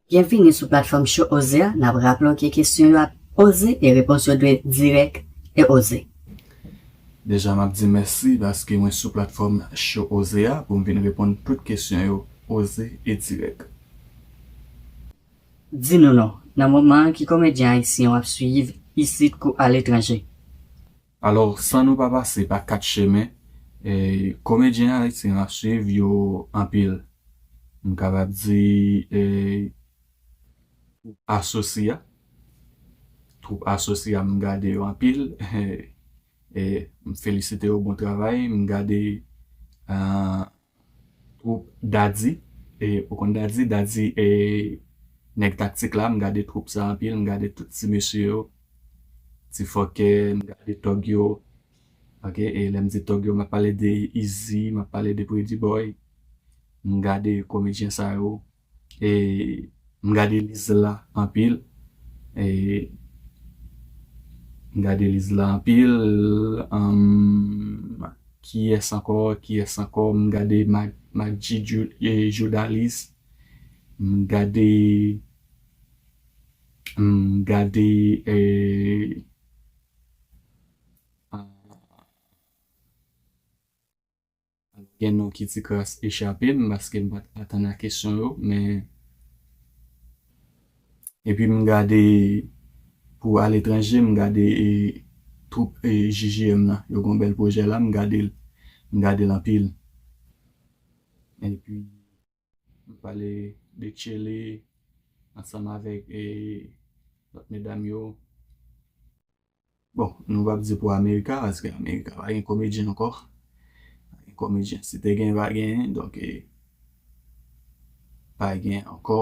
Byenvini sou platfòm Cho Oze a, nap raple w ke kesyon yo ap Oze e repons yo dwe dirèk e oze. Deja map di mèsi paske mwen sou platfòm Cho Oze a pou m vin reponn tout kesyon yo oze e dirèk. Di nou non, nan moman an ki komedyen ayisyen wap swiyiv isit kou aletranje? Alò, san nou pa pase pa 4 chemen, komedyen ayisyen m ap swiv yo anpil. M kapab di twoup Asosi a, twoup Asosi a m gade yo anpil, m felisite yo bon travay, m gade Twoup Daddy e ou konn Daddy, Daddy e nèg taktik la, m gade twoup sa anpil, m gade tout ti mesye yo, ti fòkè, m gade tòg yo ok e lè m di tòg yo m ap pale de Izi, m ap pale de Pretty Boy, m gade komedyen sa yo. M gade list la anpil M gade list la anpil humm kiyès ankò kiyès ankò m gade Macdji Joudalis m gade m gade eeh Gen non ki ti kras echape m paske m pat atann a kesyon yo men epi m gade pou aletranje m gade twoup JJM lan yo gon bèl pwojè la m gade l m gade l anpil epi Nou pale de Tchele ansanm avèk lòt medam yo. Bon, nou pap di pou Amerika paske Amerika pa gen komedyen ankò. Pa gen komedyen. Si te gen, pa genyen. Donk, pa gen ankò.